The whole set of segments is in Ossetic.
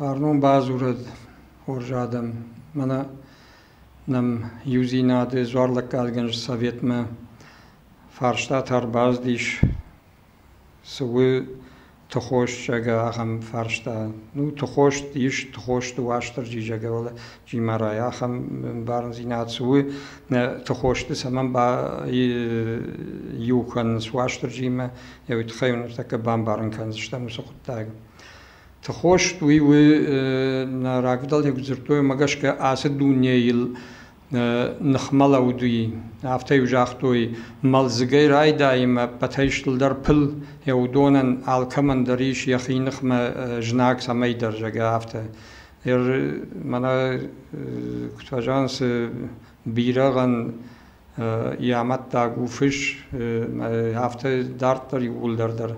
Фарнон бадзурӕд хорз адӕм, мӕнӕ нӕм Иудзинады дзуарлӕггадгӕнджы советмӕ фарстатӕ ӕрбацыдис Цы у тыхосджаг ахӕм фарста? Ну тыхост ис, тыхосты Уастырджи Джагалджимарай ахӕм бӕрндзинад цы у, нӕ тыхосты цӕмӕн иу кӕнынц Уастырджимӕ, йӕ уый тыххӕй уын ныртӕккӕ бамбарын кӕндзыстӕм уыцы хъуыддаг. Тыхост уый у, нӕ рагфыдӕлтӕ куыд дзырдтой, уымӕ гӕсгӕ ацы дунейыл ныхмӕлӕудыи. Афтӕ-иу загътой, мӕлдзыгӕй райдайын ӕппӕтӕй стылдӕр пыл йӕ уыдонӕн алкӕмӕн дӕр ис йӕхи ныхмӕ знаг цӕмӕйдӕр, зӕгъгӕ, афтӕ. Ир мӕнӕ куыд фӕзӕгъын, цы бирӕгъӕн йӕ амӕттаг у фыс, афтӕ дарддӕр иууылдӕр дӕр.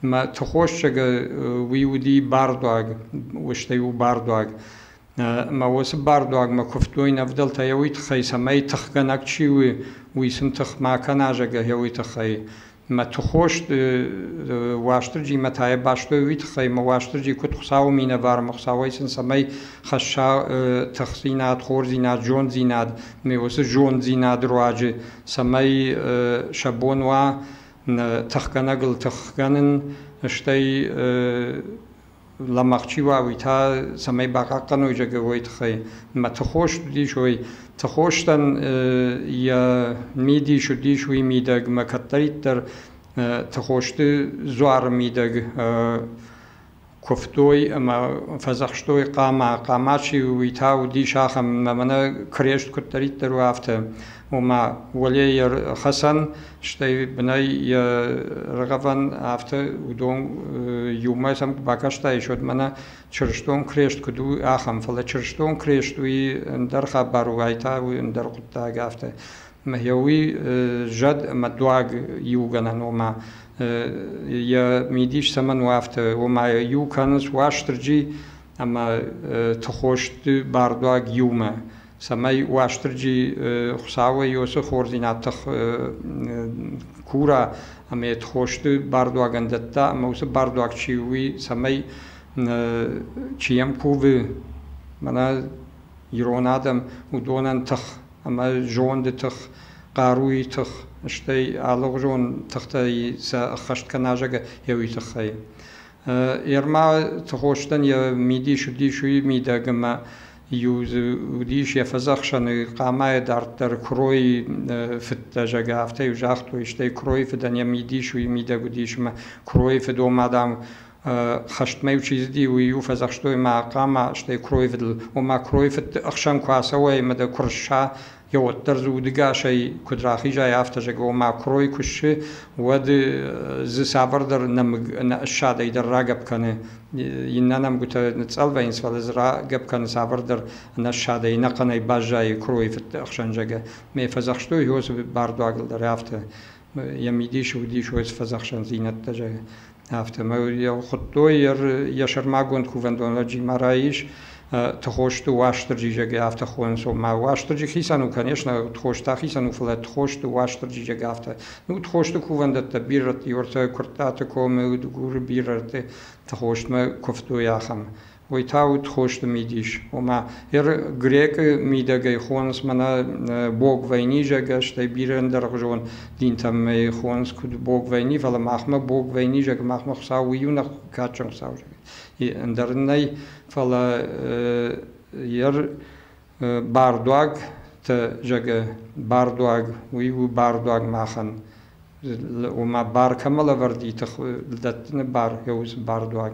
Мӕ тыхосцӕгы уый уыди бардуаг, устӕй у бардуаг. ӕмӕ уыцы бардуагмӕ куывтой ӕвдӕлтӕ йӕ уый тыххӕй, цӕмӕй тыхгӕнӕг чи у, уый сын тых ма кӕна, зӕгъгӕ, йӕ уый тыххӕй. Мӕ тыхост Уастырджимӕ та йӕ бастой уый тыххӕй, ӕмӕ Уастырджи куыд Хуыцауы минӕвармӕ, Хуыцауӕй сын цӕмӕй хӕсса тыхдзинад, хорздзинад, зонддзинад, ӕмӕ уыцы зонддзинад руаджы, цӕмӕй сӕ бон уа тыхгӕнӕгыл тых кӕнын, стӕй лӕмӕгъ чи уа, уый та цӕмӕй бахъахъхъӕной зӕгъы, уой тыххӕй. Мӕ тыхос уыдис, ой, тыхостӕн йӕ мидис уыдис уый мидӕгмӕ кӕддӕриддӕр тыхосты дзуары мидӕг куывтой ӕмӕ фӕдзӕхстой хъама. Хъама чи у, уый та уыдис ахӕм, мӕ мӕнӕ крест куыддӕриддӕр у афтӕ. Ома, уӕле йӕ хӕцӕн, Стӕй бынӕй йӕ рагъӕвӕн афтӕ уыдон иумӕ сӕм бакастаис, уӕд мӕнӕ чырыстон крест куыд у, ахӕм, фӕлӕ чырыстон крест уый ӕндӕр хабар у, ай та уый ӕндӕр хъуыддаг афтӕ. Ӕмӕ йӕ уый зӕд ӕмӕ дуаг иугӕнӕн, ома йӕ мидис цӕмӕн у афтӕ, ома иу кӕнынц Уастырджи ӕмӕ тыхосты бардуаг иумӕ. цӕмӕй Уастырджи Хуцауӕй уоцы хорздзийнад тых кура ӕма ет хости бардуагӕн дӕтта, ӕма уыцы бардуаг чи у, уый цӕмӕй чи йӕм кувы, мӕнӕ ирон адӕм уыдонӕн тых ӕмӕ зонды тых, хъаруйы тых, стӕй алыгъуызон тыхтӕй сӕ ӕххӕст кӕна зӕгӕ еуи тыххӕй. Ерма Тыхостӕн йӕ мидис уыдис уый мидӕг ӕмӕ Иу дзы уыдис йӕ фӕдзӕхсӕны хъамайы дарддӕр куыройы фыдтӕ, зӕгъгӕ, афтӕ-иу загътой, стӕй куыройы фыдӕн йӕ мидис уый мидӕг уыдис, ӕмӕ куыройы фыдон ма, дам, хӕстмӕ-иу чи цыди, уый-иу фӕдзӕхстой ма хъама, стӕй куыройы фыдыл, ома куыройы фыдты ӕхсӕн куы ацӕуай ӕмӕ дӕ куы рысса, йӕ уӕддӕр дзы удыгасӕй куыд рахизай, афтӕ зӕгъы, ома куырой куы ссы, уӕд дзы цавӕрдӕр нӕмыг ссадӕй дӕр рагӕпп кӕны. Иннӕ нӕмгуытӕ ныцъӕлвӕйынц, фӕлӕ дзы рагӕпп кӕны цавӕрдӕр ӕнӕссадӕй, ӕнӕхъӕнӕй баззайы куыройы фыдты ӕхсӕн, зӕгъы. Ме фӕдзӕхстой Иосы бардуагыл дӕр афтӕ. йӕ мидис уыдис ой фӕдзӕхсӕндзинӕдтӕ зайын афтӕмӕй хуыдтой йӕ сӕрмагонд кувӕндон лӕджимӕ раис тхосты уастырджи зӕгӕ афтӕ хонынц омӕ уастырджи хицӕн у конечно тхост ахицӕн у фӕлӕ тхосты уастырджи зӕгӕ афтӕ ну тхосты кувӕндӕттӕ бирӕты юртӕ куырттаты комы удгуры бирӕты тхостмӕ куывтой ахӕм Уый та уыд хосты мидис, ома грекъы мидӕгӕй хонынц мӕнӕ бог вайнизӕгӕ, стӕй бирӕ ӕндӕргъуызон динтӕм ӕй хонынц куыд бог вайни, фӕлӕ махмӕ бог вайнизӕг, махмӕ Хуыцау у иунӕг кадджын Хуыцау, ӕндӕр ын нӕй, фӕлӕ йӕ бардуагтӕ зӕгъы бардуаг, уый у бардуаг махӕн, ома бар кӕмӕ лӕвӕрд и, дӕттыны бар, йӕ у цы бардуаг.